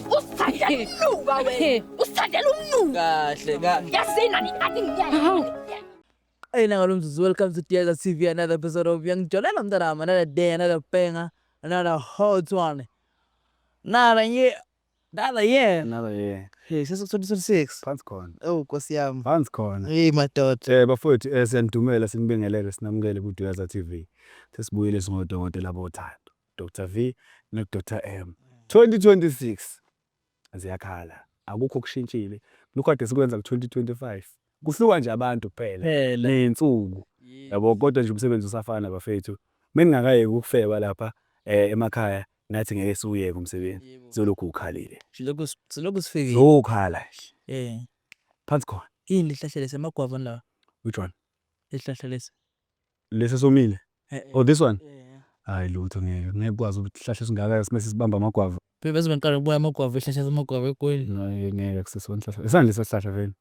Usithandela umnuka wena. Usithandela umnuka. Kahle kahle. Yasina nikathi ngiyayi. Ayina ngalo mzuzu welcome to Diaza TV another episode of Yangijolela mntanami another day another banger another hot one. Nala ye nala ye Nala ye. Hey sese 2026. Phansi khona. Oh Nkosi yami. Phansi khona. Hey madoda. Eh bafowethu eh siyanidumela sinibingelele sinamukele ku Diaza TV. Sesibuyile singodokotela bothando. Doctor V no Doctor M. 2026 ziyakhala akukho okushintshile lokhu kade sikwenza ku 2025 kuhluka nje abantu kuphela Phela. ney'nsuku yabo kodwa nje umsebenzi usafana bafethu meningakayeki ukufeba lapha eh, emakhaya nathi ngeke siwuyeke umsebenzi Yebo. zolokhu ukhalile Silokhu s- silokhu sifikile. zokhala Eh. phansi khona Yini lihlahla lesi amagwava lawa? which one Lihlahla lesi. Lesi esomile. Eh, eh, oh this one. Eh, eh. Hayi lutho ngeke. Ngeke ukwazi ukuhlahla esingaka simese sibamba amagwava. Phela bese bengiqala ukubuya amagwava ehlahla amagwava egwini. Ngeke ngeke kusesona ihlahla. Isandla sesihlahla vele.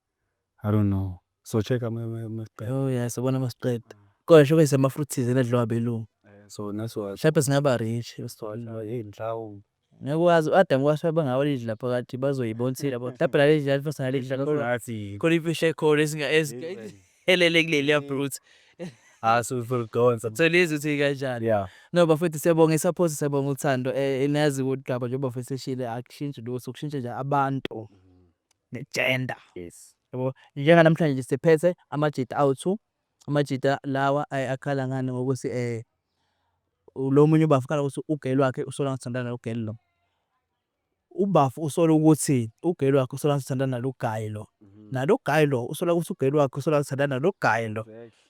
I don't know. So check ama maqeda. Oh yeah, sabona masiqeda. Kodwa shobe sema fruits enadliwa belungu. Eh, so naso. Shape singaba rich. Sithola yini mhlawumbe. Ngeke wazi u-Adam kwase bangawalidla phakathi bazoyibonsela bona mhlawumbe lalidla lalifosa nalidla khona imfisha ekhona esingaelele kuleliya brute asuzolidonsa ah, so lezi uthi kanjani yeah no bafethu siyabonga isaphosa siyabonga uthando um eh, nazi udaba njengoba fethu seshile akushintshi lutho kushintshe nje abantu mm-hmm. ne-gender yes yabo njenganamhlanje nje siphethe amajita awu-two Amajita lawa ay akhala ngani ngokuthi eh lo munye ubafo ukhala ukuthi ugirl wakhe usola ngathi uthandana nalo girl lo. Ubafo usola ukuthi ugirl wakhe usola ngathi uthandana nalo guy lo. Nalo guy lo usola ukuthi ugirl wakhe usola ngathi uthandana nalo guy lo.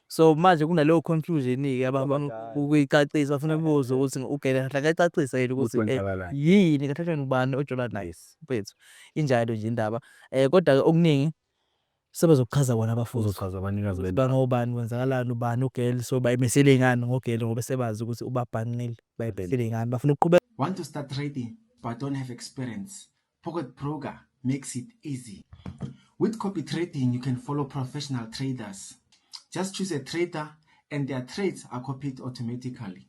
So manje kunaleyo confusion ke abafuna ukuyicacisa bafuna kubuza ukuthi ugirl kahle akayicacise yini ukuthi yini kahle kahle ubani ojola naye mfethu. Injalo nje indaba. Kodwa ke okuningi. Sebezokuchaza bona abafundi. Kuzochazwa abanikazi bendawo. Ukuthi bangobani, kwenzakalani, ubani ugirl. So bayimisele ngani ngogirl ngoba sebazi ukuthi ubabhanqile. Bayimisele ngani. Bafuna ukuqhubeka. Want to start trading but don't have experience, Pocket Broker makes it easy. With copy trading you can follow professional traders. Just choose a trader and their trades are copied automatically.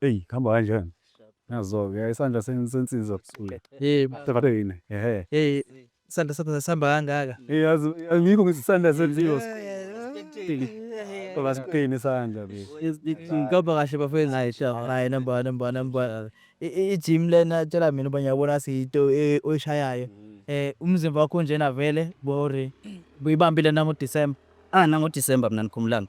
Eyi kuhamba kanjani? Nazo-ke isandla sensiza busuku. Yebo. Sevathe yini? Ehe. Hey, isandla sakho sasihamba kangaka. Eyi yazi angikho ngithi isandla senziwa. Ngoba sikuqini isandla be. Ngikaba kahle bafethu. Hayi sha, hayi number one, number one, number one. I- i- I-gym lena tshela mina uba ngiyabona siyito e- oyishayayo. Eh umzimba wakho unjena vele bore. Buyibambile nango December. Ah nango December mina nikhumbulani.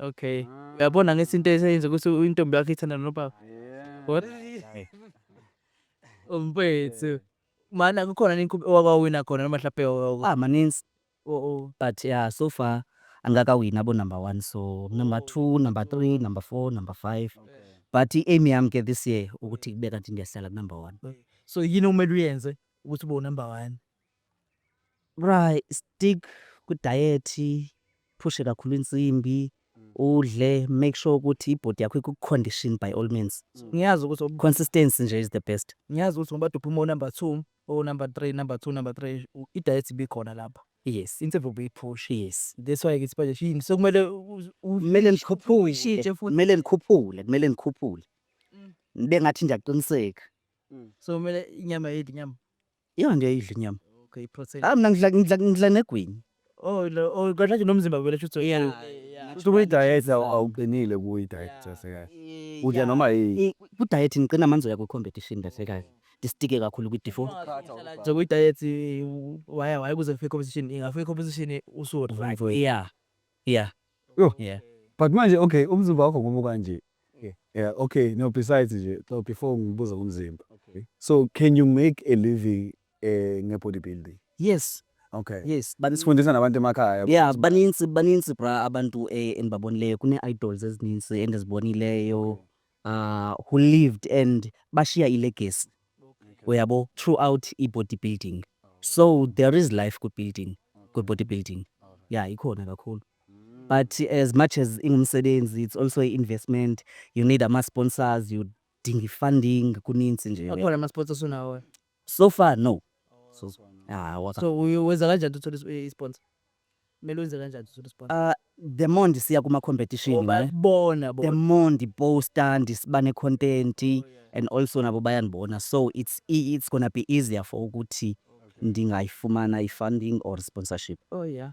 Okay. Ah. Uyabona ngesi into eseyenza ukuthi intombi yakho ithanda nobaba. Yeah. What? Umpethu. Mana kukhona nini owakawina khona noma mhlawumbe owakawina? Ah, maninzi. Oh oh. But yeah, so far angakawini abo number one. So number oh. two, number three, number four, number five. But i-aim yami ke this year ukuthi kube kanti ngiyahlala ku-number one. So yini okumele uyenze ukuthi ube unumber one? Right, stick ku-diet, phushe kakhulu insimbi, udle, make sure ukuthi i-body yakho iku-condition by all means. Ngiyazi ukuthi oku- Consistency nje is the best. ngiyazi ukuthi ngoba duphe uma unumber two, unumber three, number two, number three, u- i-diet ibikhona lapho. Yes, Insimbi ubuyiphusha. yes. That's why ngithi manje yini sekumele u- u- Kumele nikhuphule, Ushintshe futhi. kumele nikhuphule, kumele nikhuphule. Nibe ngathi nje aqiniseka. so kumele inyama yedwa inyama. Yona ngiyayidla inyama. Okay, protein. Ah mina ngidla ngidla ngidla negwini. Oh, lo- oh kahle nje nomzimba kumele shuthi uyi- Kusho kwi-diet awu- awuqinile kuyi-diet sasekahle. Udla noma yini. I- Ku-diet ngiqina manzi oya kwi-competition kahle kahle. Ndistike kakhulu kwi-defo. so kwi-diet waya waya kuze kufike competition ingafika competition usu-right Yeah. Yeah. Yoh. Yeah. But manje okay umzimba wakho ngoba kanje. Okay. Yeah, okay. No besides nje so before ngibuza ngomzimba. Okay. So can you make a living eh nge bodybuilding? Yes. Okay. Yes. But Sifundisa nabantu emakhaya. yeah, baninzi baninzi bra abantu eh, endibabonileyo kune-idols ezininzi endizibonileyo uh, who lived and bashiya ilegacy uyabo throughout i-body building so there is life kwi-building kwi-body building ya ikhona kakhulu but as much as ingumsebenzi it's also i-investment you need ama-sponsors you dinga i-funding kuninzi nje akhona ama-sports osunawo So far no. So ah waka. So uyo- wenza kanjani uthole is- i- sponsor? Kumele wenze kanjani uthole sponsor? Ah the more ndisiya kuma competition Ngoba ne. bona The bona. more ndiposta ndisiba ne content and also nabo bayandibona so it's e- it's gonna be easier for ukuthi ndingayifumana i funding or sponsorship. Oh yeah.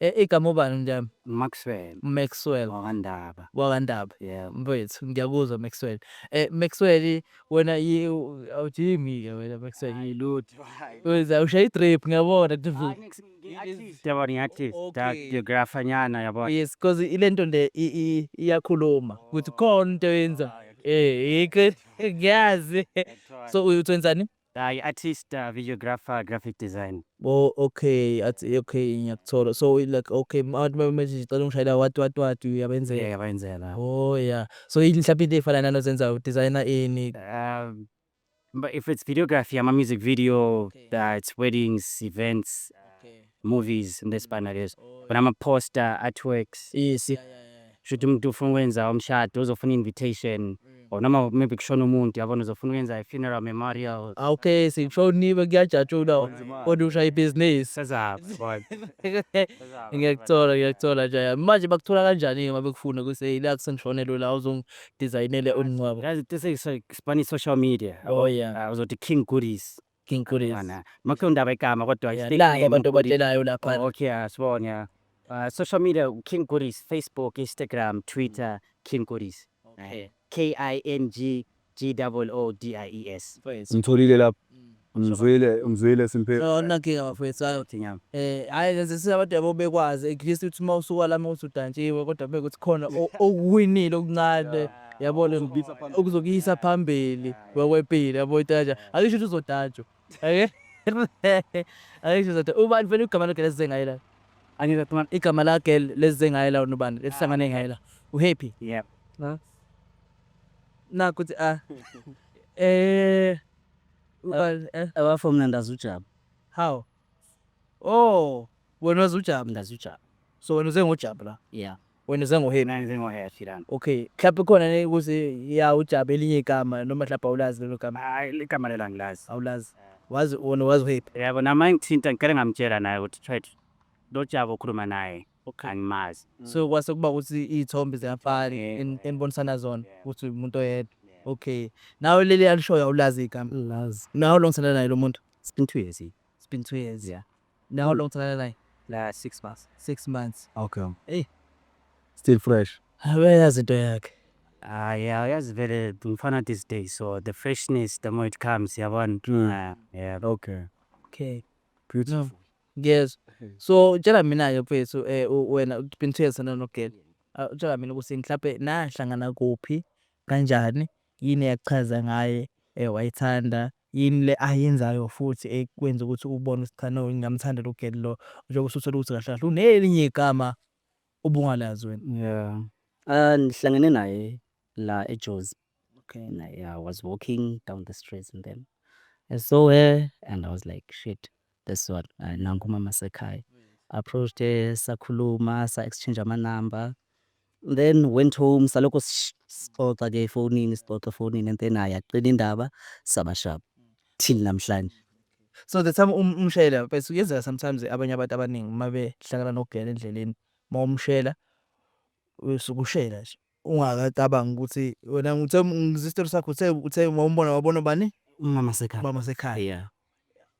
Eh igama ubani mnjami? Maxwell. Maxwell. Wakandaba. Wakandaba. Yeah. Mfethu ngiyakuzwa Maxwell. Eh Maxwell wena yi awujimi ke wena Maxwell. Hayi lutho. Wena ushaya i-drip ngiyabona kuthi. Yabona ngiyathi da geographer nyana yabona. Yes because ilento le iyakhuluma ukuthi khona into yenza. Eh iqe ngiyazi. So uyothenzani? Hi artist, uh, videographer, graphic design. Bo okay, at okay ngiyakuthola. So like okay abantu babemethi ngicela ungishayela what what what uyabenzela. Yeah, yabenzela. Oh yeah. So yini mhlawumbe into efana nalo zenza u designer ini? Um, but if it's videography, I'm a music video, Okay. uh, it's weddings, events. Okay. Movies into ezifana lezo. Khona ama poster, artworks. Yes. Yeah, yeah, yeah. Shuthi umuntu ufuna ukwenza umshado uzofuna invitation. Or noma maybe kushona umuntu yabona uzofuna ukwenza i funeral memorial. Ah, okay, sikushoniwe kuyajatshulwa kodwa ushaya ibhizinisi. Sezaphi boy. Ngiyakuthola, ngiyakuthola nje. ya. Manje bakuthola kanjani-ke uma bekufuna kuse ila kusengishonelwe la uzongidizayinele umngcwabo? Yazi tese sibani social media. Oh, yeah. Ah, Uzothi King Goodies. King Khulis. Yabona. Makuthiwa undaba igama kodwa Yeah, fake labo name abantu uKhulis. obatshelayo laphana. Oh, okay, asibone. yeah. Uh, social media King Khulis, Facebook, Instagram, Twitter, King Khulis. Okay. K I N G G double O D I E S. Mfowethu. Ngitholile lapho. Ngizwile, ngizwile simphe. No, nakinga bafowethu hayi Thinyama. eh hayi lezi siyabantu yabo bekwazi at least uthi uma usuka la uma uthi udantshiwe kodwa bekuthi khona o- okuwinile okuncane yabo le okuzokuyisa phambili Wekwepile yabo itaja. Akisho ukuthi uzotajwa. Ake. Akisho uzotajwa. Ubani fanele igama lakhe lesize ngaye la? Angeke khona igama lakhe lesize ngaye la unubani? Lesihlangane ngaye la. Uhappy. Yeah. Na. Na kuthi a. Eh. Ubani eh. Abafo mina ndazi uJabu. How? Oh, wena wazi uJabu. Ndazi uJabu. So wena uze ngoJabu la? Yeah. Wena uze ngo happy. Mina ngize ngo happy lana. Okay. Mhlawumbe khona ne ukuthi ya ujabe elinye igama noma mhlawumbe awulazi lelo gama. Hayi igama lelo angilazi. Awulazi. Wazi wona wazi happy. Yebo nama ngithinta ngicela ngamtshela naye ukuthi threat lo Jabu okhuluma naye angimazi. So kwase kuba ukuthi izithombe ziyafana enibonisana zona ukuthi umuntu oyedwa. Okay. Nawe leli alishoyo awulazi igama. Angilazi. Now long sana naye lo muntu? It's been two years. It's been two years. Yeah. Now how long tsalala naye? La 6 months. 6 months. Okay. Hey. Still fresh. Uyayazi into yakhe. Ah yeah, uyazi vele umfana these days so the freshness the more it comes yabona. Mm. Ah, yeah. Okay. Okay. Beautiful. Yes. So tshela mina ke mfethu eh u- wena ubeen two years sana no girl. Ah, Tshela mina ukuthi mhlawumbe nahlangana kuphi kanjani yini yakuchaza ngaye eh wayithanda Yini le ayenzayo futhi ekwenza ukuthi ubone ukuthi cha no ngingamthandela ugirl lo njengoba usuthole ukuthi kahle kahle unelinye igama obungalazi wena. Yeah. Ah ngihlangene naye la eJozi. Okay. And I, I was walking down the streets and then I saw her and I was like shit. That's what uh, nangu umama sekhaya approached her sakhuluma sa exchange ama number then went home salokho sish- sixoxa ke efonini sixoxa efonini and then naye aqina indaba sabashaba till namhlanje so the time um- umshayela mfethu kuyenzeka sometimes abanye abantu abaningi uma behlangana nokugela endleleni uma umshela usuke ushela nje Ungakacabangi ukuthi wena ngithe ngizwa isitori sakho uthe uthe wawumbona wabona bani? Umama sekhaya. Umama sekhaya. Yeah.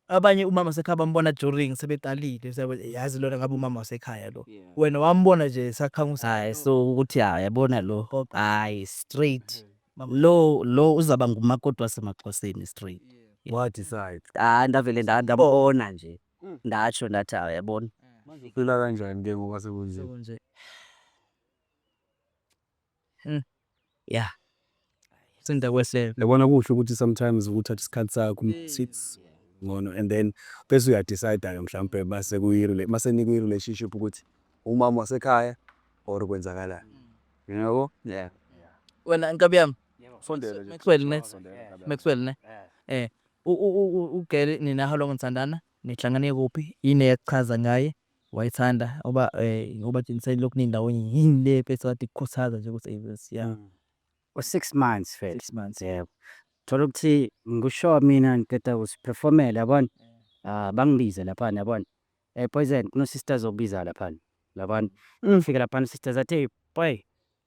Abanye umama sekhaya bambona during sebeqalile seyabe yazi lona ngabe umama wasekhaya lo. Yeah. Wena wambona nje sakhangusa. Hayi so ukuthi hayi yabona lo. Okay. Hayi straight. Lo lo uzaba ngumakoti wasemaXhoseni straight. Wa decide. Ah ndavele nda- ndabona nje. Ndasho ndathi hayi yabona. Manje uphila kanjani ke ngoba sekunje? Sekunje. Hmm. Yeah. Sinda kwesele. Yabona kuhle ukuthi sometimes ukuthatha isikhathi sakho hmm. sits ngono and then bese uya decide ke mhlawumbe base kuyi relationship mase niku relationship ukuthi umama wasekhaya or kwenzakalani. Hmm. Yabo? Yeah. Wena nkabi yami. Sondela. Maxwell ne. Maxwell ne. Eh. ugele nina how long nithandana nihlangane kuphi yini eyakuchaza ngaye wayithanda ngoba eh ngoba Jinseni lokhu nindawonye yini le bese wathi kukhuthaza nje ukuthi yes yeah Mm. U-six months first. six months Yebo. Thola ukuthi ngikusho mina ngiqeda kusiperformela yabona. Ah bangibize lapha yabona. Eh Poison kuno sister zokubiza lapha. Yabona. Ngifike lapha sister zathi boy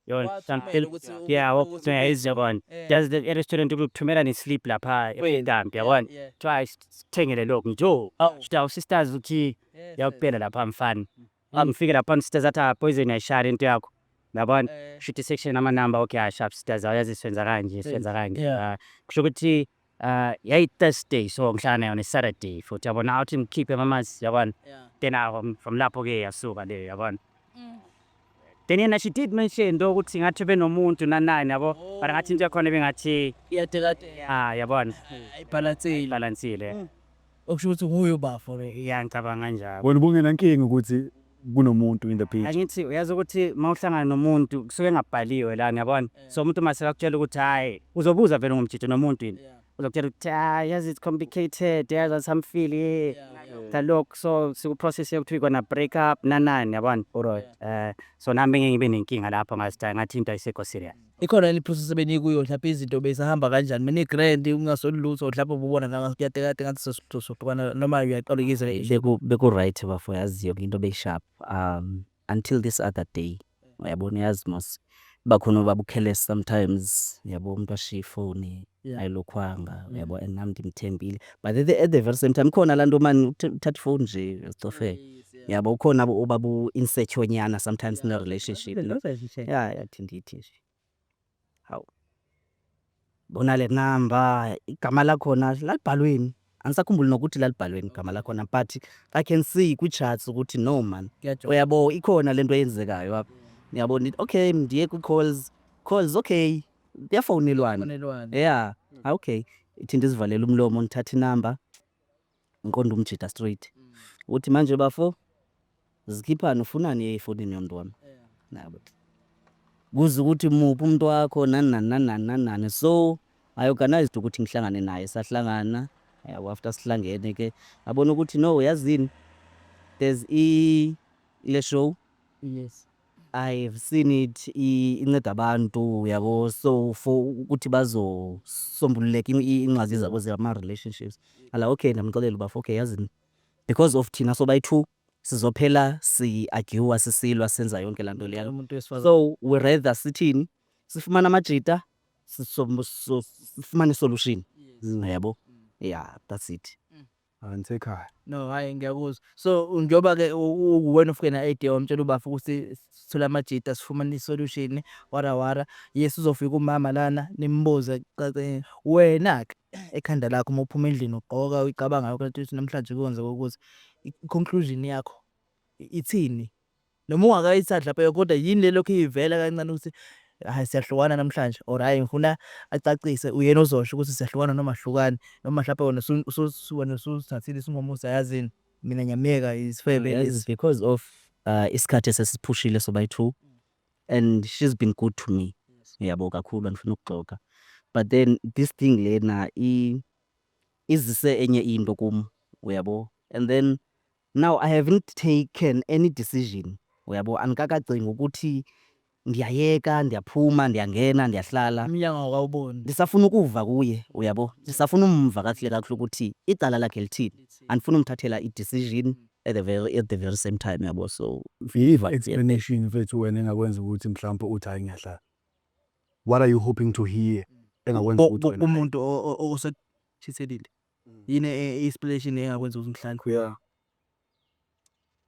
Yona, Wathumela something. ukuthi u- Yeah, ukuthi waphuthunywa uphinde. yize yabona. Eh. Just the restaurant ukuthumela ne slip lapha Wena. ekambi Yeah, yabona. yeah. Try sithengele lokhu nje. Oh, Awu. shita usisters uthi Yes, yes. yakuphela lapha mfana. Angifike lapha usisters athi ah, poison ayishali into yakho. Yabona. Eh, Shita section ama number okay ah, sharp sisters awuyazi senza kanje, senza kanje. Yeah. Ah, Kusho ukuthi Uh, yayi-thursday so ngihlala nayo ne-saturday futhi yabona awuthi ngikhiphe mamazi yabona yeah. then um, from lapho-ke yasuka leyo yabona mm. then yena she did mention into ukuthi ngathi benomuntu nanani yabo oh. but ngathi into yakhona bengathi ah yabona ayibhalansile mm. Okusho ukuthi nguye ubafo ke. Ya ngicabanga njalo. Wena ubungenankinga ukuthi kunomuntu in the picture? Angithi uyazi ukuthi mawuhlangana nomuntu kusuke engabhaliwe lana yabona. So umuntu mase akutshela ukuthi hayi uzobuza vele ngomjito nomuntu yini. Uzokutshela ukuthi hayi yazi it's complicated yazi asamfili ngalokhu so siku process yokuthi we gonna break up nanani yabona. Alright. Eh so nami bengeke ngibe nenkinga lapho ngazi ukuthi ngathi into ayisekho serious. Ikhona yini iphusu esebenikuyo mhlawumbe izinto bezahamba kanjani mina i-grand ungasoli lutho mhlawumbe ububona nanga kuyatekate ngathi sosuhlukana noma uyaqala ukizwa Beku beku-right bafo yazi yonke into beyisharp um until this other day uyabona uyazi mos iba khona ubaba uKhelesi sometimes yabo umuntu ashiye ifoni ayilokhwanga mm. yabo and nam ndimthembile but at the, at the very same time khona laa nto mani uthatha ifowuni nje zicofele yabo ukhona uba bu-insecure nyana sometimes yeah, nerelationship ya yathi ndithi nje hawu bona le namba igama lakhona lalibhalweni Angisakhumbuli nokuthi lalibhalweni igama lakhona but I can see kwi-charts ukuthi no man. Kuyajola. Uyabo ikhona lento eyenzekayo apha. Uyabo ngithi okay ndiye kwi-calls. Calls okay. Kuyafonelwana. Kufonelwana. Yeah. Ah, okay. Ithi ndizivalele umlomo ngithathe inamba ngiqonda umjita straight. Uthi manje bafo Zikhiphani ufunani efonini yonto wami. Nabo. Kuze ukuthi muphi umuntu wakho nani nani nani nani nani nani. So I organized ukuthi ngihlangane naye sahlangana yabo after sihlangene ke abona ukuthi no yazini there's i le show Yes. I've seen it i- inceda abantu yabo so for ukuthi bazosombululeka in- i- ingxazi zabo zama relationships ala okay ndamxelela ubafo okay yazini because of thina sobayi-two sizophela si arguer sisilwa senza yonke lanto leyana umuntu wesifazane so we rather sithini sifumane amajita sifumane solution yabo yeah that's it angisekhaya no hayi ngiyakuzwa so njengoba ke uwena ufike na idea wamtshela ubafo ukuthi sithole amajita sifumane isolution wara wara yes uzofika umama lana nimbuze cace wena ke ekhanda lakho uma uphuma endlini ugqoka uyicabanga yonke lento ukuthi namhlanje kuyenze ukuthi i-conclusion yakho ithini noma ungakayisadla phela kodwa yini le lokhu ivela kancane ukuthi hayi siyahlukana namhlanje or hayi ngifuna acacise uyena ozosho ukuthi siyahlukana noma ahlukani noma mhlawumbe wena wena usuzithathile isinqumo usayazini Mina ngiyamyeka isifebe Yes, lesi. because of uh, isikhathi esesiphushile sobayi two and she's been good to me yabo kakhulu andifuna ukuxoka but then this thing lena i- izise enye into kum uyabo and then now i haven't taken any decision uyabo andikakacingi ukuthi Ndiyayeka, ndiyaphuma, ndiyangena, ndiyahlala. Umnyango awukawuboni. Ndisafuna ukuva kuye, uyabo. Ndisafuna umva kakuhle kakuhle ukuthi icala lakhe lithini. Andifuni umthathela i decision at the very, at the very same time, uyabo. So, Viva explanation mfethu wena engakwenza ukuthi mhlawumbe uthi hhayi ngiyahlala. What are you hoping to hear engakwenza ukuthi wena hhayi. Kumuntu osekuchithelile. Yini i explanation engakwenza ukuthi ngihlale. Kuya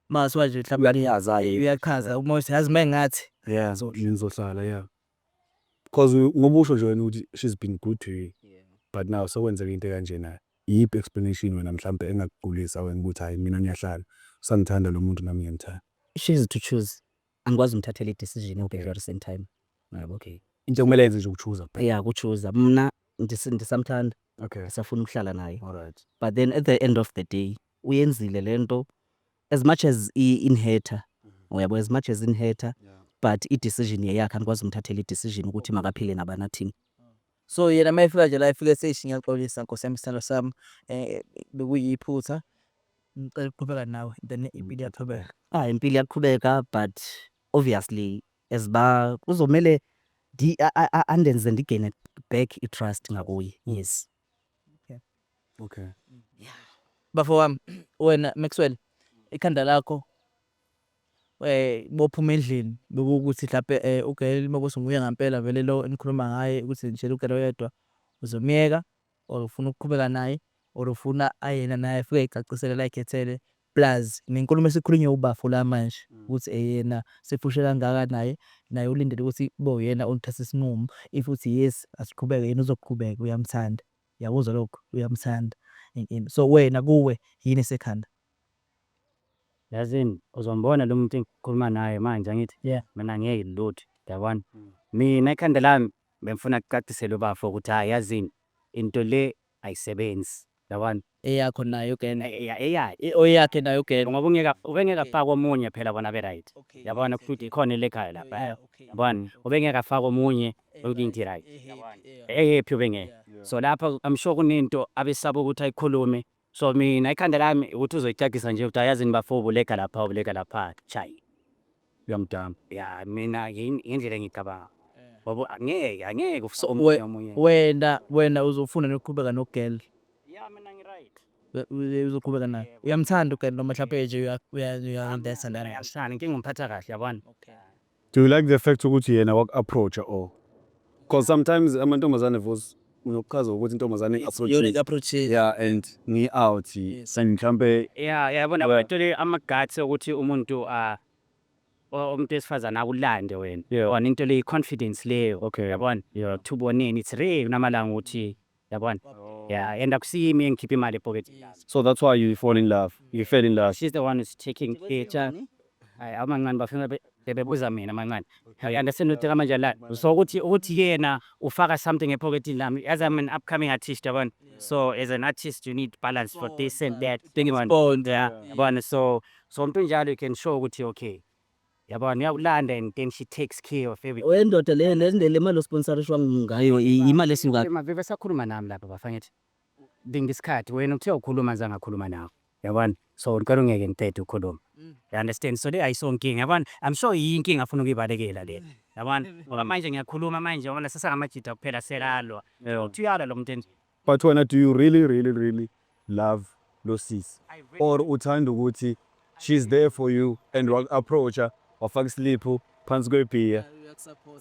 Maziwa nje mhlawumbe Uyachaza ke. uyachaza uma uthi yazi mengathi Yeah, so ngizohlala yeah. Because u- ngoba usho nje wena ukuthi she's been good to you. But now sekwenzeka into ekanjena. Iyiphi explanation wena mhlambe engakugulisa wena ukuthi hayi mina ngiyahlala. Usangithanda lo muntu nami ngiyamthanda. she is to choose angikwazi umthathela i-decision ewubheke at the same time yabo okay Into ekumele yenze nje ukuchuza kuphela. ya kuchuza mna ndis- ndisamthanda Okay. ngisafuna ukuhlala naye Alright. but then at the end of the day uyenzile lento as much as i inherter uyabo as much as inherter but i decision yeyakhe anikwazi umthathela i decision ukuthi makaphile nabana team So yena uma efika nje la efike ethi eish ngiyaxolisa nkosi yami isithando sami eh bekuyiphutha ngicela ukuqhubeka nawe then impilo iyaqhubeka ah impilo iyaqhubeka but obviously as ba kuzomele ndi a- a- a- andenze ndigene back i trust ngakuye yes Okay. Okay. Yeah. Bafo wami, wena Maxwell, ikhanda lakho eh bophuma endlini bekuwukuthi mhlawumbe eh uGail Mabuso nguye ngampela vele lo enikhuluma ngaye ukuthi nje uGail oyedwa uzomyeka or ufuna ukuqhubeka naye or ufuna ayena naye afike ecacisele la ekhethele Plus nenkulumo esikhulunywa ubafo la manje ukuthi eyena sefushe kangaka naye, naye ulindele ukuthi kube uyena oluthatha isinqumo if uthi yes asiqhubeke yena uzoqhubeka uyamthanda uyakuzwa lokho uyamthanda and so wena kuwe yini esekhanda. Yazini uzombona lomuntu engikhuluma naye manje angithi mina ngeke lutho yabona mina ekhanda lami bengifuna kucaciselwe ubafo ukuthi hhayi yazini into le Ayisebenzi yabona. Eyakho nayo gen. Eyakhe. Oyakhe nayo gen. Ngoba ungeka ubengeke afake omunye phela bona be right yabona kushuthi ikhona elegayo lapha yabona ubengeke afake omunye yonke into i right yabona e happy ubengeke so lapha I'm sure kunento abesaba ukuthi ayikhulume so mina ikhanda lami ukuthi uzoyicacisa nje ukuthi ayazini bafo ubulega lapha ubulega lapha chai. uyamdamba. Ya mina yin- yindlela engicabanga. Wabo angeke angeke ufise omunye We- omunye. wena wena uzofuna nokuqhubeka nogirl Ya mina ngi right. We- we- uzoqhubeka naye uyamthanda ugirl noma mhlawumbe nje uya- uya- uyamdesa lana Ngiyamthanda inkinga umphatha kahle yabona. Do you like the fact ukuthi yena waku-approacha or? Cause sometimes amantombazane vos Unokuchaza ukuthi intombazane Yona i-approach-ile. yeah and ngi-out Yes. and mhlampe ya yabona Well- uthole ama-guts okuthi umuntu ah, o- umuntu wesifazane akulande wena Yeah. yabona into le i-confidence leyo Okay. yabona Yeah. ukuthi uboneni it's real kunamalanga ukuthi yabona ya and akusiyimi engikhipha imali epoketini so that's why you fall in love you fell in love she's the one who's taking picture Hayi amancane bafuna be- bebebuza mina amancane. I understand ukuthi kamanje la so ukuthi ukuthi yena ufaka something ephokethini lami as I'm an upcoming artist yabona. So as an artist you need balance for this and that. Yabona? Bond. Yeah, yabona so so umuntu njalo you can show ukuthi okay. Yabona uyakulanda and then she takes care of everything. Oyendoda le le le mali osponsorishwa ngayo i- imali esuka Maveve sakhuluma nami lapha bafangithi. linda isikhathi wena uthe ukhuluma nje angakhuluma nawe yabona so ngicela ungeke ngiqede ukukhuluma mm. you understand so le ayisonkinga yabona i'm sure yinkinga afuna ukuyibalekela le mm. yabona mm. ngoba manje ngiyakhuluma manje yabona sesangamajida kuphela selalwa uthi uyalwa lo muntu enje but wena do you really really really love losisi or uthanda ukuthi she's there for you and wa approacha wafaka isiliphu phansi kwebhiya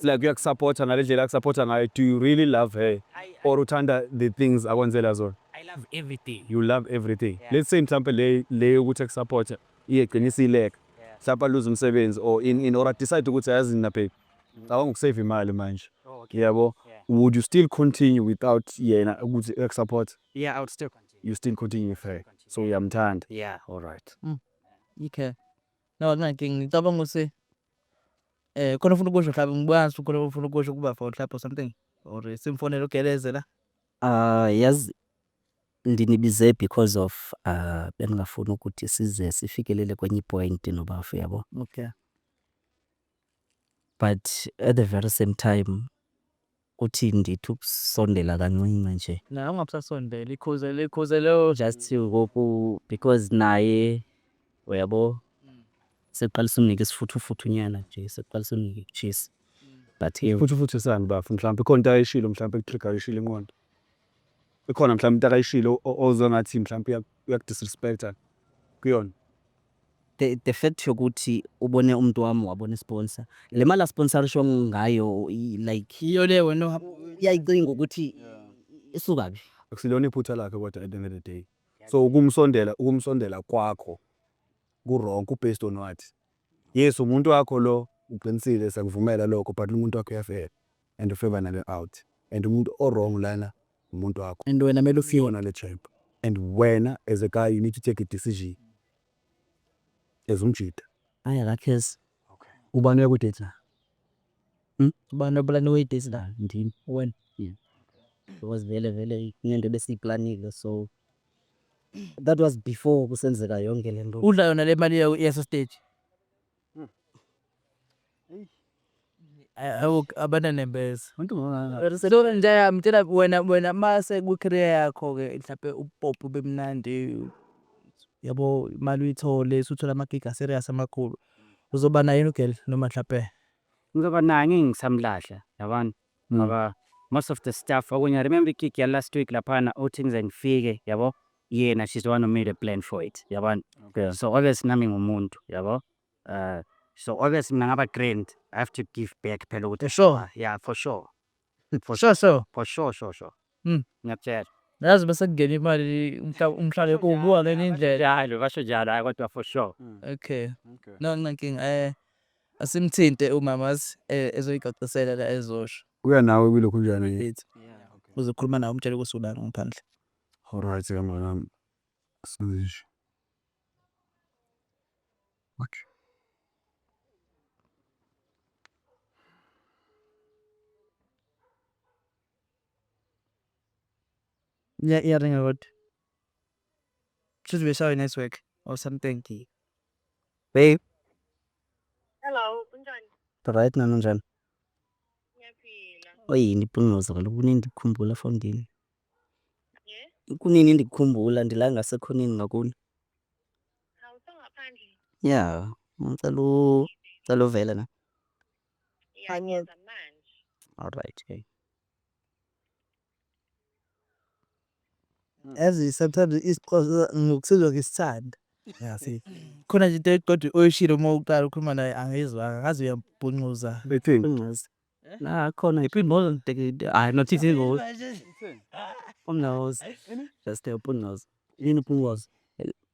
like uyakusupporta ngale ndlela akusupporta ngayo do you really love her or uthanda the things akwenzela zona I love everything. you love everything Yeah. let's say mhlampe le le yokuthi akusupporta iyegcina isileka Yeah. mhlampe aluze umsebenzi or in in or I decide ukuthi ayazi nina babe ngicabanga ukusave imali manje Oh, okay. yabo Yeah. would you still continue without yena ukuthi akusupporta Yeah, I would still continue. You still continue with her. So uyamthanda. Yeah. All right. Okay. No, akunankinga. Ngicabanga ukuthi eh khona ufuna ukusho mhlawumbe ngikwazi khona ufuna ukusho kuba for mhlawumbe or something or simfonele ugeleze la. Ah yazi ndinibize because of ah bengingafuni ukuthi size sifikelele kwenye point nobafu yabo. Okay. But at the very same time Kuthi ndithi ukusondela kancinci nje. Naye ungabusasondeli, ikhuze likhuze lelo. Just ngoku because naye uyabo seqalisa umnika isifuthufuthu nyana nje seqalisa umnika ikutshisa but ewu. Futhufuthu sani bafo mhlawumbe ikhona into ayishilo mhlawumbe ekutriggerishile inqondo. Ikhona mhlawumbe into akayishilo o- ozwe ngathi mhlawumbe uyak- uyakudisrespecta kuyona. The, the fact yokuthi ubone umuntu wami wabona isponsor le mali asponsorishwa ngayo i- like yiyo le wena ohamba uyayicinga ukuthi isuka kuphi akusilona iphutha lakhe kodwa at the end of the day so ukumsondela ukumsondela kwakho ku-wrong ku-based on what yes umuntu wakho lo uqinisile siyakuvumela lokho but umuntu wakho uyafela and ufeva nale out and umuntu owrong lana umuntu wakho and wena mele ufiwe nale champ and wena as a guy you need to take a decision as umjita hayi akakhesi okay ubani uyakudate la hmm? ubani obulani uyidate la ndini wena yeah. because vele vele ngento besiyiplanile so that was before kusenzeka yonke lento udla yona le mali yeso stage abananembeza so nje mtshela wena wena mase kwi-career yakho-ke mhlampe ubupopi ube mnandi yabo imali uyithole usuthola amagigi aserious amakhulu uzoba naye yini ugirl noma mhlampe ngizoba naye ngeke ngisamlahla yabona ngoba most of the stuff okunye remember ikiki ya last week laphana uthi ngize ngifike yabo yena she's the one who made a plan for it yabona okay. so always nami ngumuntu yabo uh, so always mina ngaba grand i have to give back phela ukuthi sure yeah for sure for sure sure for sure sure sure Mm. ngiyakutshela yazi bese kungena imali umhla- umhlale ubuka ngenye indlela njalo basho njalo hayi kodwa for sure okay Okay. no nginankinga eh asimthinte umama azi eh, ezoyicacisela la ezosho kuya nawe kwilokhu njani Ethi, uzokhuluma nawe umtshele ukuthi ulana ngaphandle alright kamnganami sizisho okay Iya iyaringa kodwa. Kushuthi beshawa i-network or something. Babe. Hello, kunjani? Right nami njani? Ngiyaphila. Oyini ipungoza kaloku kunini ndikukhumbula for ndini. Yeah? Kunini ndikukhumbula ndila ngasekhoneni ngakuni. Awusongaphandle. Yeah, ngicela u- ngicela uvele na. Ngiyayenza manje. All right. Hey. Yazi sometimes isiqozo ngokusizwa ngisithanda. Yasi. Khona nje into kodwa oyishilo uma uqala ukhuluma naye angizwanga ngaze uyambhuncuza. Bethini. Ungazi. La khona iphimbozo ngidekide. Hayi not izingozi. Ungazi. Just a ungazi. Yini Phungwazi?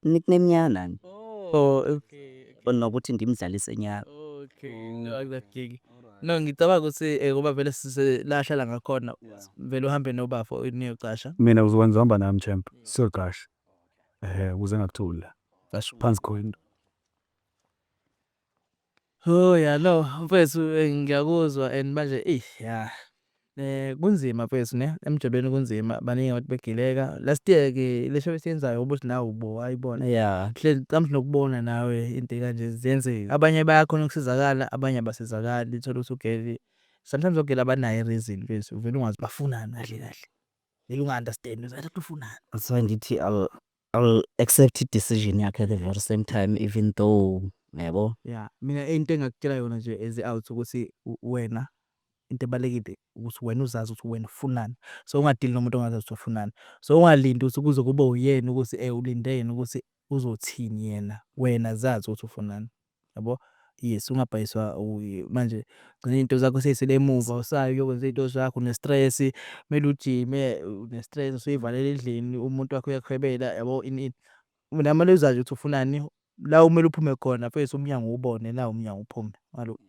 Nickname yami. Oh, okay. Bona ukuthi ngimdlalise nyaka. Okay. Akuzakiki. No ngicabanga ukuthi eh, ngoba vele sise la ahlala ngakhona vele uhambe nobafo niyocasha. Mina uzokwenza hamba nami champ. Siyoqasha. Eh, ukuze ngakuthula. Phansi khona. Hoo ya no mfwethu eh, ngiyakuzwa and manje ey ya eh kunzima mfwethu ne emjolweni kunzima baningi abantu begileka last year ke le show esiyenzayo ubuthi nawe ubo ayibona ya hle kamhle nokubona nawe into ekanje ziyenzeka abanye bayakhona ukusizakala abanye abasizakali thola ukuthi ugeli sometimes ogeli abanayo reason mfwethu uvela ungazi bafunani kahle kahle vele unga understand uzathi ufunani that's why ngithi I will accept i decision yakhe at the very same time even though yabo. Yeah, mina into engakutshela yona nje as out ukuthi wena into ebalekile ukuthi wena uzazi ukuthi wena ufunani so ungadili nomuntu ongazazi ukuthi ufunani so ungalindi ukuthi kuze kube uyena ukuthi eh ulinde yena ukuthi uzothini yena wena zazi ukuthi ufunani yabo yes ungabhayiswa manje ugcina iy'nto zakho sey'sele emuva usayo uyokwenza iy'nto zakho une-stress kumele ujime une-stress usuy'valele endlini umuntu wakho uyakuhwebela yabo ini ini mina kumele uzazi ukuthi ufunani la kumele uphume khona mfethu umnyango uwubone nawu umnyango uphume ngalo.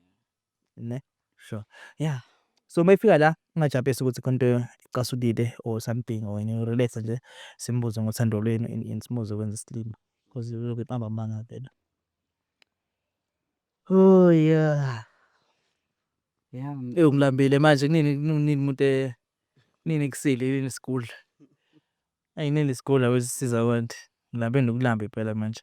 ne sure yeah so uma ifika la ungajampesi ukuthi khona into icasukile or something or any relax nje simbuze ngothando lwenu and and simuze kwenza isilima because uyoke iqamba amanga vele oh yeah yeah ewu ngilambile manje kunini kunini umuntu eh, kunini kusile yini isigudla ayinini isigudla wesisiza abantu ngilambe nokulamba impela manje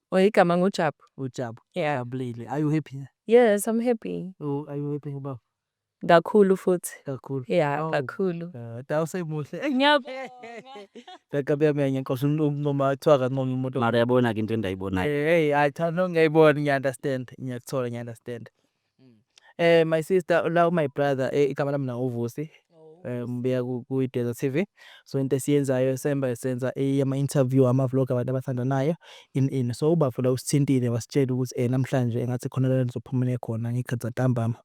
Or igama ngu Jabu. UJabu. Yeah. Ujabulile. Are you happy ne? Yes, I'm happy. U, are you happy ngobaba? Kakhulu futhi. Kakhulu. Yeah, Awu. kakhulu. Ah, da usemuhle. Ey, Ngakabi yami yangenqosha umncoma kuthiwa akancome umuntu. Mara yabona-ke into endayibonayo. Hey, hey, hayi cha no ngiyayibona ngiya-understand. Ngiyakuthola ngiya-understand. Eh my sister la u my brother eh, igama lami la uVusi. Eh ngibuya ku ku Desert TV. So into esiyenzayo semba senza eh, ama interview ama vlog abantu abathandanayo in in. So ubafo la usithintile wasitshela ukuthi eh namhlanje engathi khona la nizophumela khona ngiqeda ntambama.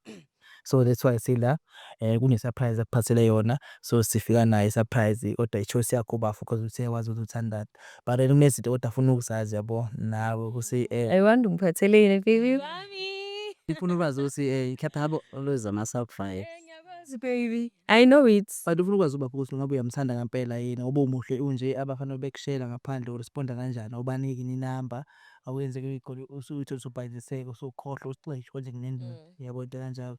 So that's why sila eh kune surprise akuphathele yona. So sifika naye surprise kodwa i choice yakho bafo because uthe wazi ukuthi uthandana. But wena kunezinto kodwa afuna ukuzazi yabo nawe ukuthi eh. I wonder ungiphatheleni baby wami. Ngifuna ukwazi ukuthi eh mhlawumbe habo always ama sacrifice. Eh, ngiyakwazi baby. I know it. But ufuna ukwazi ubaba ukuthi ngabe uyamthanda ngempela yini ngoba umuhle unje abafana bekushela ngaphandle uresponda kanjani awubaniki ni number awenzeke uyigoli usuyithola usubhayiziseka usukhohlwa usixesho konje kunendaba. Mm. Yabo into kanjalo.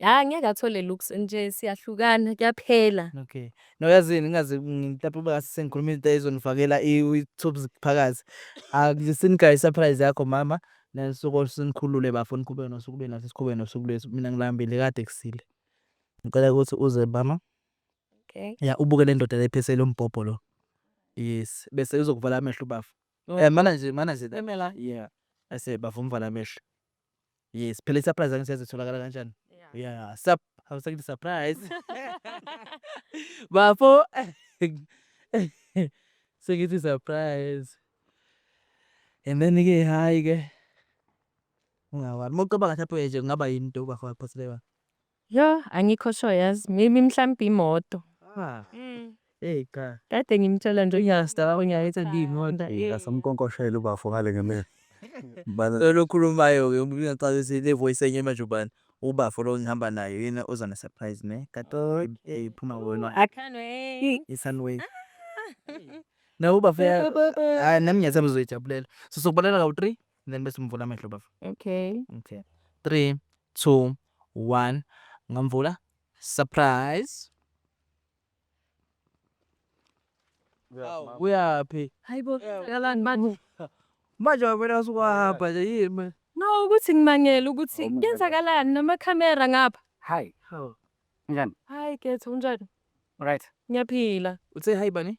Hayi ngeke athole looks nje siyahlukana kuyaphela. Okay. No yazini ngingaze ngitape uba ngase sengikhuluma into ezonifakela i-tubes phakathi. Akusinigaya i-surprise yakho mama. Nanisuku olusinikhulule bafo niqhubeke nosuku lwenu nathi siqhubeke nosuku lwethu. Mina ngilambile kade kusile. Ngicela ukuthi uze mama. Okay. Ya ubuke le ndoda lephesele umbhobho lo. Yes. Bese uzokuvala amehlo bafo. Eh mana nje mana nje. Emela. Yeah. Ase bafo umvala amehlo. Yes, phela i-surprise angithi yazi itholakala kanjani. Yeah, sup awusakithi surprise. Bafo sengithi surprise. And then ke hayi ke ungawari. Uma ucabanga ngathi apoye nje kungaba yini into ubafo aphoselewa. Yoh angikho sure yazi maybe mhlampe imoto. Hey cha. Kade ngimtshela nje uyasta uyayithi ngiyimoto. Ngasamkonkoshela ubafo ngale ngemini. Bala lo khulumayo ke ngiyacabanga ukuthi le voice enye manje ubani. Ubafo lo ngihamba naye yena oza ne surprise ne. Kato hey phuma wena. I can't wait. I can't wait. No ubafo hayi nami ngiyathemba uzoyijabulela. So sokubalela kawu 3 then bese umvula amehlo bafo. Okay. Okay. 3 two, one, ngamvula. Surprise. Awu, uyaphi? Hayibo, kalani manje? Manje wabona usukwahamba nje yini manje? No, ukuthi ngimangele ukuthi Oh, my God. kwenzakalani namakhamera ngapha. Hi. Hawu. Njani? Hayi, Ketho, unjani? Right. Ngiyaphila. Uthe hayi bani?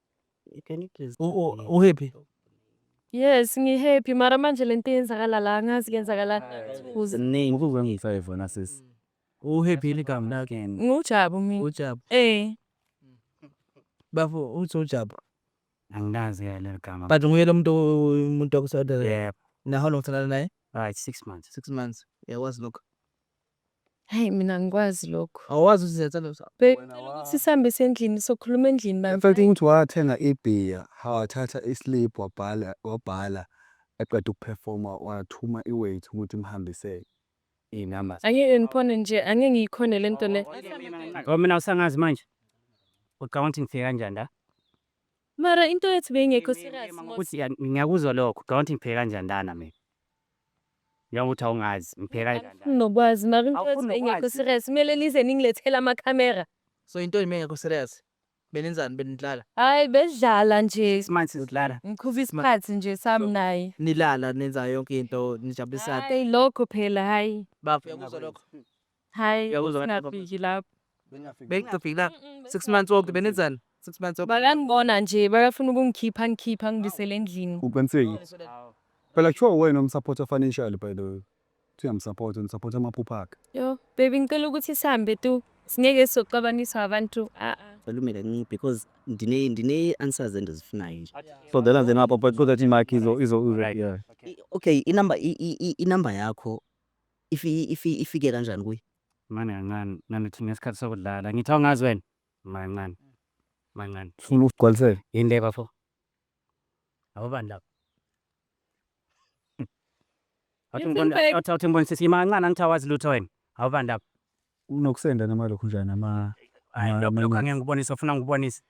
Uhappy? Yes, ngihappy mara manje lento yenzakala la angazi kwenzakalani kuze. Ziningi ukuzwe ngisayo vona sisi. Uhappy yini igama lakhe? Ngujabu mina. Ujabu. Eh. Bafo uthi ujabu. Angikazi ke leli gama. But nguye lo muntu umuntu wakuSouth Africa. Yebo. Na how long uthandana naye? Right, six months. Six months. Uyakwazi lokho. Hayi mina angikwazi lokho. Awazi uzenza lo sa. Babe Wena cela wa- ukuthi sihambe sendlini sokhuluma endlini bani. Emfethu ukuthi wathenga ibhiya wathatha islip wabhala wabhala eqeda ukuphefoma wathuma iweight ukuthi imhambisele inama Angeke ngiphone nje, angeke ngiyikhone le nto le. Yabo mina usangazi manje. Ucabanga ukuthi ngifike kanjani la? Mara into yethu beyingekho serious mos. Ukuthi ya- ngiyakuzwa lokho, ucabanga ukuthi ngifike kanjani lana mina? Njengoba uthi awungazi, ngipheka kanjani? Angifuni nokwazi, mara into Awufuni nokwazi? engekho serious. Kumele nize ningilethele amakhamera. So yintoni mengekho serious? Benenzani benidlala? Hhayi, besidlala nje. Isimanje sizidlala. Ngiqhuba isikhathi nje sami naye. Nilala nenza yonke into nijabulisane. Hhayi, lokho phela, hhayi. Bafo uyakuzwa lokho? Hhayi, Uyakuzwa ngathi singafiki lapho. Bengingafiki la. Six months wonke benenzani? Six months wonke. Bakangibona nje, bakafuna ukungikhipha, angikhiphe, angibisele endlini. Uqiniseki. Phela kuthiwa uwena omsupporta financially by the way. Uthi uyamsupporta, nisupporta amaphupha akhe. Yo, baby ngicela ukuthi sihambe tu. Singeke sizoxabaniswa abantu. Ah, ah. Ukhulume kancane because ndine ndine answers endizifunayo nje. So then then apha but so that imakhi izo izo izo. Yeah. I- Okay, inamba i- i- i- inamba yakho Ifi, ifi, ifike kanjani kuye? Mane kancane, nanothi ngesikhathi sokudlala. Ngithi awungazi wena? Mancane. Mancane. Funa ukugcwalisela. Yini le bafo? Awubani lapho? Awuthi ngibona, awuthi awuthi ngibona sisi, yima kancane angithi awazi lutho wena. Awubani lapho? Kunokusenda noma lokhu njani ama Hayi lokho lokho amanye. angeke ngikubonise ufuna ngikubonise.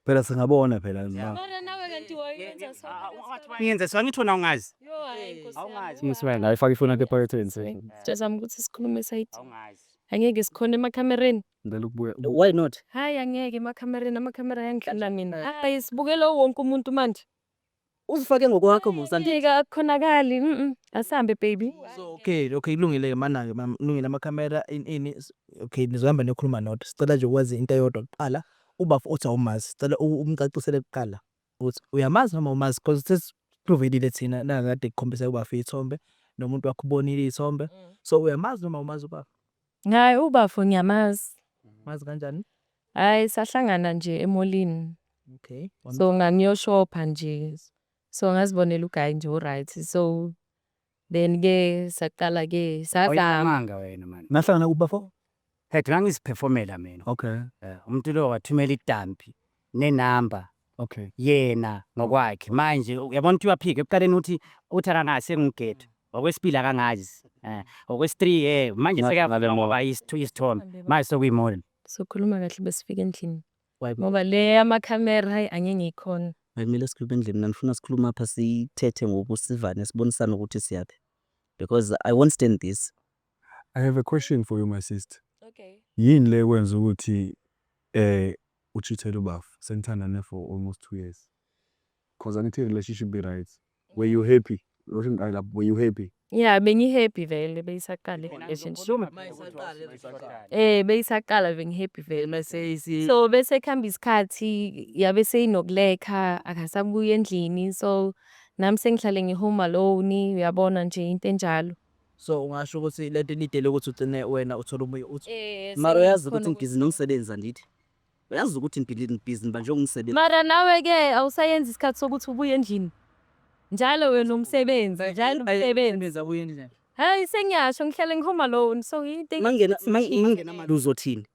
Phela singabona phela noma. Mara nawe kanti wayenza so. Ngiyenze so angithi wena ungazi. Yo hayi nkosi yami. Awungazi. Miss wena ayifaka ifoni yakhe ephaketheni se. Sitshazama ukuthi sikhulume side. Awungazi. Angeke sikhona emakhamereni. Ngicela ukubuya. Why not? Hayi angeke emakhamereni amakhamera ayangidlula mina. Hayi sibukela wonke umuntu manje. Uzifake ngokwakho Musa andithi. Ngeke akukhonakali. Mhm. Asihambe baby. So okay, okay kulungile ke mana ke mama, kulungile ama camera in ini. s- Okay nizohamba niyokhuluma nodwa. Sicela nje ukwazi into eyodwa kuqala. Ubafo uthi awumazi. Sicela u- umcacisele kuqala ukuthi uyamazi noma awumazi because sesi provedile thina nakade kukhombisa ubafo ithombe nomuntu wakho ubonile ithombe. So uyamazi noma awumazi ubafo? Hhayi ubafo ngiyamazi. Umazi kanjani? Hhayi sahlangana nje emolini. Okay. So ngangiyoshopha nje. So ngazibonela uguy nje oryt so then ke saqala ke sazama. Awunamanga wena mani. Nahlangana kuphi bafo? Head ngangiziphefomela mina. Okay. Umuntu lo wathumela itampi ne number Okay. yena ngokwakhe manje uyabona ukuthi uyaphika ekuqaleni uthi uthi akangazi sengugedu ngokwesibili akangazi eh ngokwesi-three eh manje Ngathi sekuyavuka ngale ngoba moto. isithu- isithombe manje sekuyimodel sokhuluma kahle besifika endlini Why? ngoba le yamakhamera hayi angeke ngiyikhona Bekumele sikhulume endlini mina ngifuna sikhulume apha sithethe ngokusivane sibonisane ukuthi siyaphi because I won't stand this. I have a question for you my sister. Okay. Yini le kwenza ukuthi eh uchithele ubafo senithandane for almost 2 years. Cause angithi relationship be right. Were you happy? Loshin I love were you happy? Yeah, bengi happy vele beyisaqala relationship. Eh beyisaqala bengi happy vele mase isi. So bese khamba isikhathi yabe seyinokulekha akasabuya endlini so nami sengihlale ngi home alone uyabona nje into enjalo. So ungasho ukuthi lento inidele ukuthi ugcine wena uthola ubuye uthi Eh, mara uyazi sengikhona ukuthi ngibhizi nomsebenzi andithi uyazi ukuthi ngibhizi ngibhizi nibanje umsebenzi Mara nawe ke awusayenzi isikhathi sokuthi ubuye endlini. Njalo wena umsebenzi, njalo umsebenzi. Benza kuye endlini Hayi sengiyasho ngihlale ngihome alone so into mangena engi- mang- mangena mali uzothini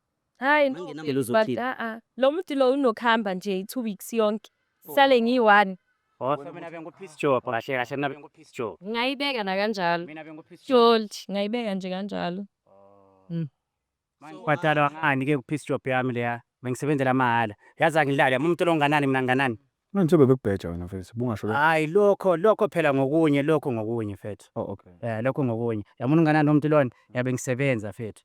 Hayi no Mangenamali but uzokhipha. ah ah. Lo muti lo unokuhamba nje i-two weeks yonke. Sale ngiyi-one. Kodwa mina bengu-peace job kahle kahle mina bengu-peace job. Ngayibeka nakanjalo. Mina bengu-peace job. Jolty. Ngayibeka nje kanjalo. Ngibhadalwa ngani ke ku-peace job yami leya? Bengisebenzela mahhala. Yazi angidlali yami umuntu lo nginganani mina nginganani? Manje njengoba bekubheja wena mfethu ubungasho ke. Hhayi lokho lokho phela ngokunye lokho ngokunye mfethu. Oh okay. Eh lokho ngokunye. Yabona unganani umuntu lona? Yabe ngisebenza mfethu.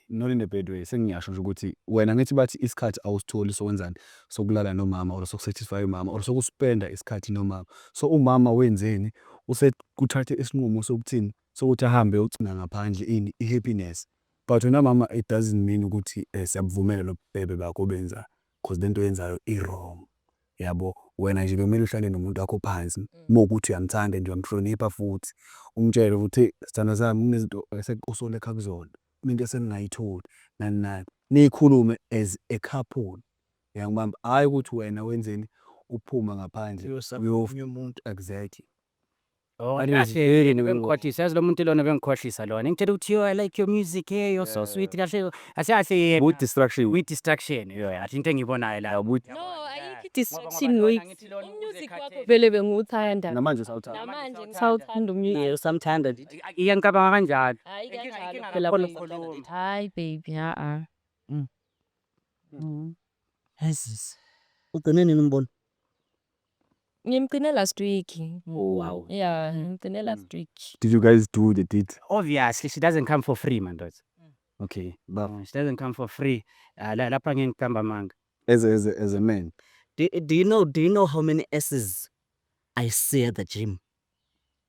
not in a bad way sengiyasho nje ukuthi wena ngithi bathi isikhathi awusitholi sokwenzani sokulala nomama or sokusatisfy umama or sokuspenda isikhathi nomama so umama wenzeni usekuthathe isinqumo sokuthini sokuthi ahambe ucinga ngaphandle ini i-happiness but wena mama it doesn't mean ukuthi eh, siyabuvumela lobubhebe bakho obenzayo because le nto yenzayo i-wrong yabo wena nje bekumele uhlale nomuntu wakho phansi mm. uma ukuthi uyamthanda nje uyamhlonipha futhi umtshele ukuthi sithanda sami kunezinto esekuqusole ekha kuzona Mina into esengingayitholi nani nani nikhulume as a couple yangibamba hayi ukuthi wena wenzeni uphuma ngaphandle uyofunye umuntu exactly bengikhohlisa yazi lo muntu lona bengikhohlisa lona ngitshela ukuthi yo i like your music hey you're so sweet kahle kahle kahle yena with distraction with distraction yo yathi into engiyibonayo la no ayikho distraction noise music wakho vele bengiwuthanda namanje sawuthanda namanje ngisawuthanda umyeni usamthanda Iya ngicabanga kanjalo. Hayi Inkinga- kanjalo inkinga phela kakhulu Nkosi. mkhulumi. Hayi baby, ha-a. Mm. Mm. Jesus. Ugcine nini umbona? Ngimgcine last week. Oh, wow. Yeah, ngimgcine last week. Did you guys do the deed? Obviously she doesn't come for free mandoda. Okay. But She doesn't come for free. Ah, la- Lapha ngeke ngiqamba amanga. as a, as a, as a man, Do, do you know do you know how many S's I see at the gym?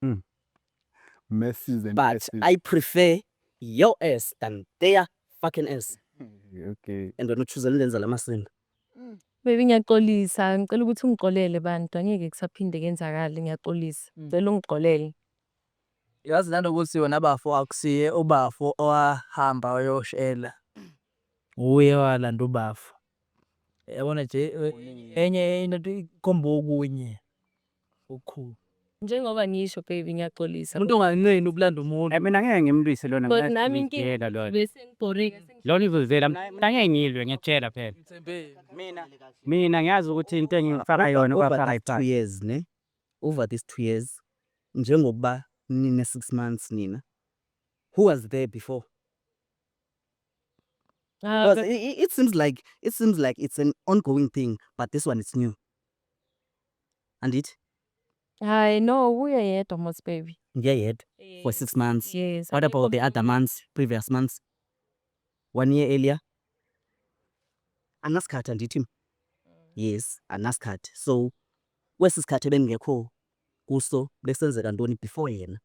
Mm. Messages and But S's. I prefer your ass than their fucking ass. okay. And wena uchuza lenza lamasinda. Baby ngiyaxolisa, ngicela ukuthi ungixolele bantu, angeke kusaphinde kenzakale, ngiyaxolisa. Mm. Ngicela ungixolele. Yazi lana ukuthi wena bafo akusiye ubafo owahamba wayoshela. Uye walanda ubafo. Yabona nje e- enye into ikhomba okunye. Ukhu. Njengoba ngisho baby ngiyaxolisa. Umuntu onganqeni ukulanda umuntu. Mina ngeke ngimlwise lona But ngeke nami inkinga- ngiyela lona. Bese ngibhoreka sengi- Lona izozela mina mina ngeke ngilwe ngiyakutshela phela. Mina mina ngiyazi ukuthi into engifaka yona over ubafaka these two iphansi. years ne over these two years njengokuba nine six months nina who was there before Ah, because it, it seems like it seems like it's an ongoing thing but this one is new andithi Hayi no kuye yedwa Mosi baby. ngiye yedwa for six months Yes. what about the other months previous months one year earlier anasikhathi andithi mna yes anasikhathi so kwesi sikhathi ebendingekho kuso bekusenzeka ntoni before yena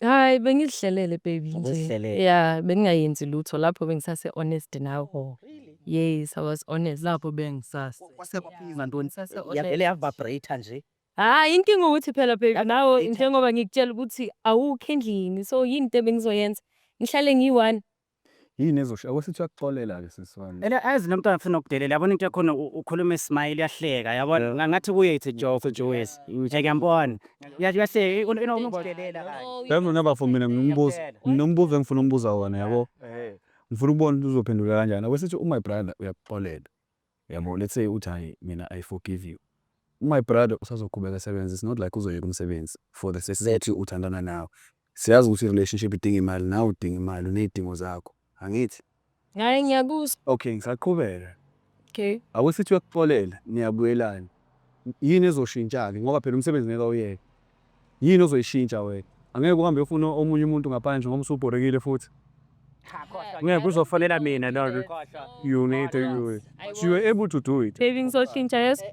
Hayi bengizihlelele baby nje. Uzihlelele. Yeah, bengingayenzi lutho lapho bengisase honest nawe. Oh, really? Yes, I was honest. Lapho bengisase. Kwase kwaphinga ntoni? Sase honest. Yavele yavibrate nje. Hayi inkinga ukuthi phela baby Yazi nawe later. njengoba ngikutshela ukuthi awukho endlini so yini into ebengizoyenza ngihlale ngiyi-one Yini ezosho akwesithi uyakuxolela ke sisi wami. Ela azi lomntwana ufuna ukudelela yabona into yakhona u- ukhuluma ismile uyahleka yabona Yeah. nga- ngathi kuye it's a joke nje wes ngiyambona Uya- uyahleka u- u- unokudelela kanje. Yazi mina bafo mina nginombuzo nginombuzo engifuna umbuza wona yabo. Ngifuna ukubona ukuthi uzophendula kanjani. Akwesithi u-my brother uyakuxolela. Yabo let's say uthi hayi mina I forgive you my brother usazoqhubeka esebenza it's not like uzoyeka umsebenzi for the sake uthandana nawe siyazi ukuthi relationship idinga imali nawe udinga imali uney'dingo zakho angithi ngaye ngiyakuzwa okay ngisaqhubeka okay awusithi uyakuxolela niyabuyelana yini ezoshintsha-ke ngoba phela umsebenzi ngeke awuyeke Yini ozoyishintsha wena? Angeke uhambe uyofuna omunye umuntu ngaphandle ngoba usubhorekile futhi. Ngeke kuzofanela mina lona. You need to you. You were able to do it. Baby ngizoshintsha yes.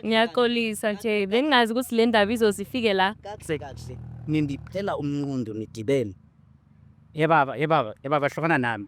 Ngiyaxolisa nje. Bengingazi ukuthi le ndaba izozifike la. Kahle kahle. Nindiphela umnqondo nidibene. Ye baba, ye baba, ye baba hlukana nami.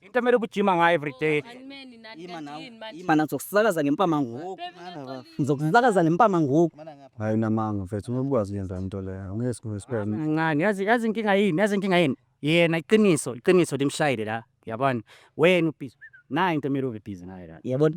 into emele ubujima ngayo everyday Ima nawe, Yini manje? ima nawe, ngizokuzakaza ngempama ngoku. Ngizokuzakaza ngempama ngoku. hayi unamanga mfethu uma ubukwazi uyenza into leyo ngeke sikhulume siphele kancane yazi yazi inkinga yini yazi inkinga yini yena iqiniso iqiniso limshayile la yabona wena ubhizi nayo into emele ube bhizi ngayo la Yabona?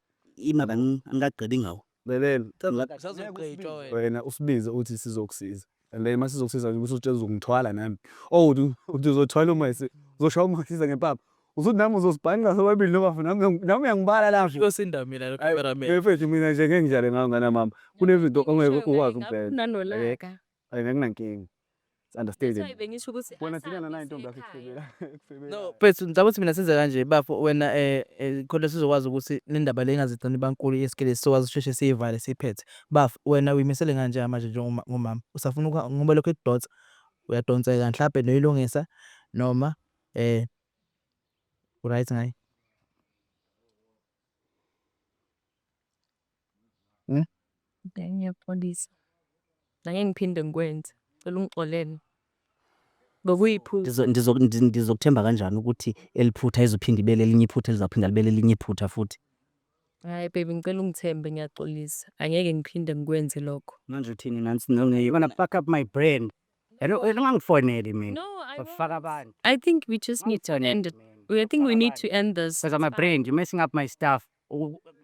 Ima la ngingagqibi ngawe. Lalela. Cha ngeke usazogqitshwa wena. Wena usibize uthi sizokusiza. And then masizokusiza nje usutshela uzongithwala nami. Oh uthi uthi uzothwala uma ese uzoshaya uma siza ngempama. Usuthi nami uzosibhanqa sobabili noma mfana nami nami uyangibala la. Uyosinda mina lo cameraman. Mfethu mina nje ngeke ngidlale ngawe ngane mama. Kunezinto ongeke ukwazi ukubheka. Nganolaka. Ay nginankinga. It's understanding. Hayi bengisho ukuthi Wena asabi thina nana intombi yakho sisekhaya. ekufebela. Ekufebela. no mfethu ngicabanga ukuthi mina senze kanje bafo wena eh eh, khona sizokwazi ukuthi le ndaba le ingazigcini bankulu yesikele sizokwazi ukusheshe siyivale siyiphethe bafo wena uyimisele kanje manje njengoma- ngomama usafuna ukuha- ngoba lokho ekudonsa uyadonseka mhlawumbe noyilungisa noma eh right ngayo Hmm? Okay, ngiyakuxolisa. Nangeke ngiphinde ngikwenze. Cela ungixolele. Bekuyiphutha. Ndizo- ndizo- ndi- ndizokuthemba kanjani ukuthi eliphutha izophinde ibe lelinye iphutha elizaphinda libe lelinye iphutha futhi Hayi baby ngicela ungithembe ngiyaxolisa. Angeke ngiphinde ngikwenze lokho. manje uthini nansi no- you're gonna fuck up my brand Hello, wena ungangifoneli mina No, I ufaka abantu I think we just need to end it. We- I think we need to end this. because I'm a brand you're messing up my stuff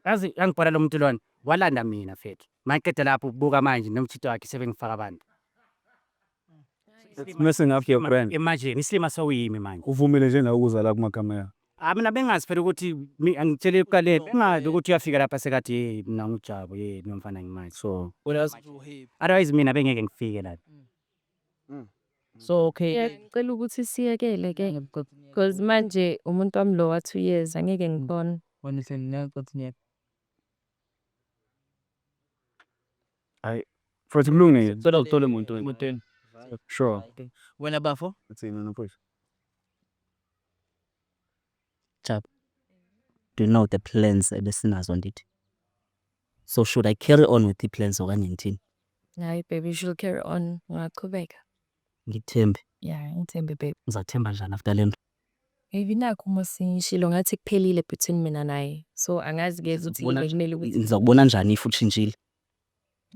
Yazi yangibhola lo muntu lona, walanda mina mfethu. Maqeda lapho ubuka manje nomthito wakhe sebengifaka abantu. It's messing up your brand. Imagine isilima sewuyimi manje. Uvumile nje nawe ukuza la kumakamera. Ah mina bengazi phela ukuthi mi- angitshele ekuqaleni bengazi ukuthi uyafika lapha sekathi hey mina ngujabo hey nomfana ngimanje so What else do you hate? otherwise mina bengeke ngifike la. So okay. Ngiyacela ukuthi siyekele ke because manje umuntu wami lo wa two years angeke ngibone. Wena usengiyazi ukuthi ngiyeke. Hayi. Futhi kulungile. Cela uthole umuntu wena. Muteni. Sure. Wena bafo? Uthini wena mfowethu? Jab. Do you know the plans ebesinazo ndithi? So should I carry on with iplans okanye ngithini? Hayi baby you should carry on ungaqhubeka. Ngikuthembe. Yeah ngithembe baby. Ngizathemba njani after lento? Baby nakho uma sengishilo ngathi kuphelile between mina naye. So angazi ke ukuthi Ngizokubona- bekumele ukuthi Ngizakubona njani if utshintshile?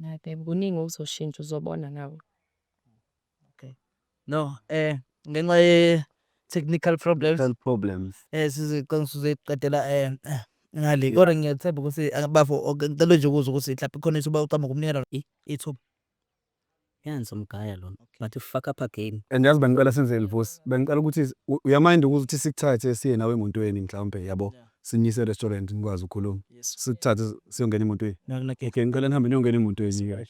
hayi baby kuningi okuzoshintsha uzobona nawe. Okay. No, eh ngenxa ye technical problems. Health problems. Eh sizicela sizoyiqedela eh ngale. Kodwa ngiyethemba ukuthi ah, bafo ok, ngicela nje ukuzwa ukuthi mhlawumbe khona ithuba ucama ukumnikela i- ithuba. Yanzi umgaya lona. But ufuck up again. And yazi bengicela senze livusi. Bengicela ukuthi u- uyamind ukuthi sikuthathe siye nawe emontweni mhlawumbe yabo. Sinyise restaurant nikwazi ukukhuluma. Yes. Sikuthathe siyongena emontweni. Nakuna ke. Okay, ngicela nihambe niyongena emontweni guys.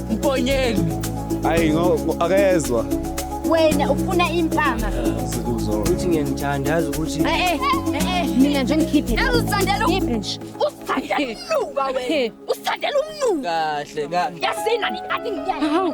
Mponyeni. Hayi ngo akezwa. Wena ufuna impama. Sikuzo. Uthi ngiyanithanda yazi ukuthi. Eh eh eh mina nje ngikhiphe. Yazi usithandela ukhiphe nje. Usithandela umnuka wena. Usithandela umnuka. Kahle kahle. Yasina ni athi ngiyazi.